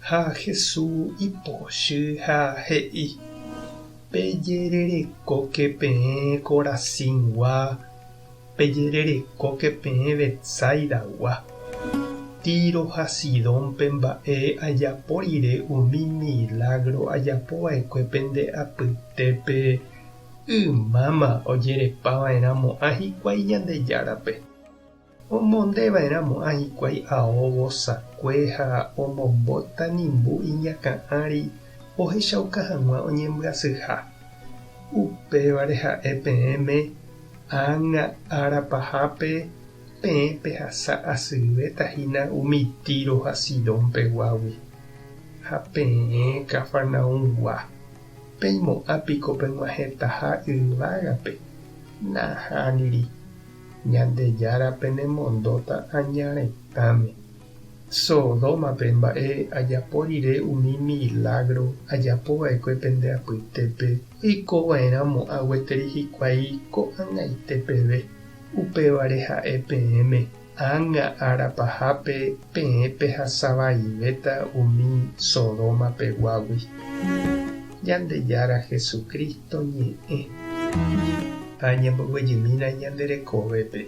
Ha Hesu ipochy ha he'i, Pejererekóke peẽ Corazíngua, pejererekóke peẽ Betsaidagua. Tiro ha Sidónpe mba'e ajapo rire umi milágro ajapo va'ekue pende apytépe, ymáma ojerepava'erãmo'ã hikuái Ñandejárape. Omondeva'erã mo'ã hikuái ao vosakue ha omombóta nimbu iñakã'ári ohechauka hag̃ua oñembyasyha. Upévare ha'e peẽme ág̃a ára pahápe peẽ pehasa asyvéta hína umi Tiro ha Sidón peguágui. Ha peẽ Cafarnaúmgua, peimo'ã piko peg̃uahẽtaha yvágape? Nahániri. Ñandejára penemondóta aña retãme. Sodómape mba'e ajapo rire umi milágro ajapo va'ekue pende apytépe oiko va'erã mo'ã gueteri hikuái ko'ag̃aite peve. Upévare ha'e peẽme, Ág̃a ára pahápe peẽ pehasavaivéta umi Sodóma peguágui. Ñandejára Jesucristo ñe'ẽ. Ha ñamboguejymína ñande rekovépe.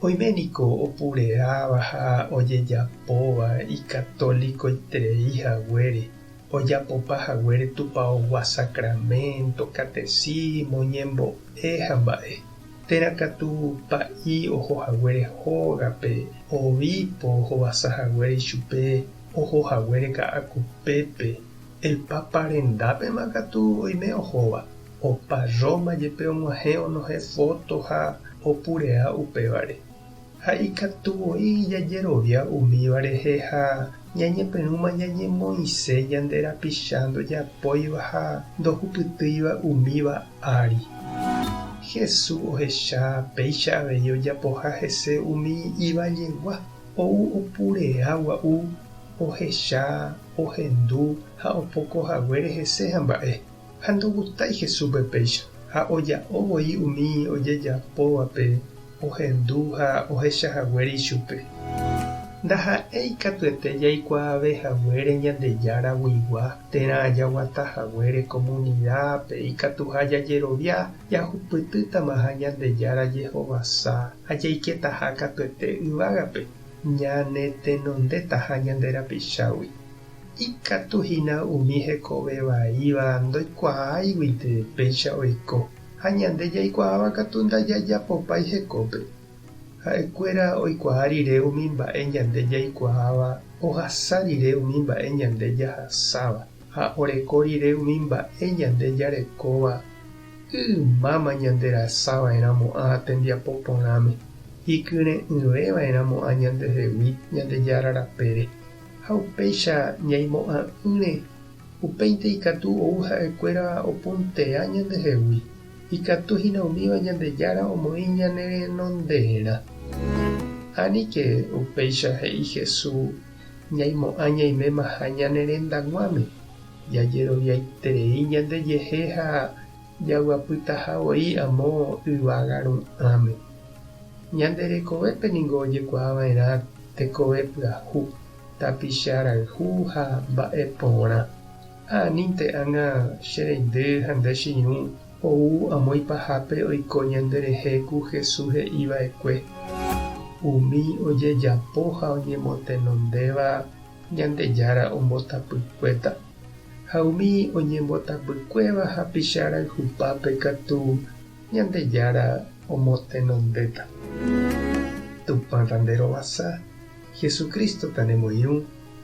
Oime niko opureáva ha ojejapóva ikatolikoiterei haguére, ojapopa haguére tupaogua sacramento, catecismo, ñembo'e ha mba'e. Térã katu pa'i oho haguére hógape, obipo ohovasa haguére ichupe, oho haguére Ka'akupépe, el Papa rendápema katu oime ohóva, opa Roma jepe og̃uahẽ onohẽ foto ha opurea upévare. Ha ikatu voi jajerovia umíva rehe ha ñañepyrũma ñañemoĩse ñande rapicha ndojapóiva ha ndohupytýiva umíva ári. Jesús ohecha péicha avei ojapoha hese umi ivajegua. Ou opurea gua'u, ohecha, ohendu ha opoko haguére hese ha mba'e, ha ndogustái Jesúspe péicha, ha oja'o voi umi ojejapóvape ohendu ha ohecha haguére ichupe. Ndaha'éi katuete jaikuaave haguére Ñandejára guigua, térã jaguata haguére komunidápe ikatuha jajerovia Jahupytýtamaha Ñandejára jehovasa ha jaiketaha katuete yvágape, ñanetenondetaha ñande rapichágui. Ikatu hína umi hekove vaíva ndoikuaáiguinte péicha oiko, ha ñande jaikuaáva katu ndajajapopái hekópe. Ha'ekuéra oikuaa rire umi mba'e ñande jaikuaáva ohasa rire umi mba'e ñande jahasáva. ha oreko rire umi mba'e ñande jarekóva ymáma ñanderasava'erãmo'ã ha tembiapo porãme, ikyre'ỹveva'erãmo'ã ñandehegui Ñandejára rapére, ha upéicha ñaimo'ã'ỹre, upéinte ikatu ou ha'ekuéra opuntea ñandehegui, ikatu hína umíva Ñandejára omoĩ ñanerenonderã. Aníke, upéicha he'i Jesús. ñaimo'ã ñaimémaha ñane rendaguáme, jajeroviaiterei ñandejehe ha jaguapytaha voi amo yvága ru'ãme. Ñande rekovépe ningo ojekuaava'erã tekove pyahu, tapicha rayhu ha mba'e porã. Ha anínte ág̃a che reindy ha nde che irũ ou amo ipahápe oiko ñande rehe ku Hesu he'i vaekue, umi ojejapo ha oñemotenondéva Ñandejára ombotapykuéta, ha umi oñembotapykuéva hapicha rayhupápe katu Ñandejára omotenondéta. Tupã ta nde rovasa, Jesucristo ta ne moirũ.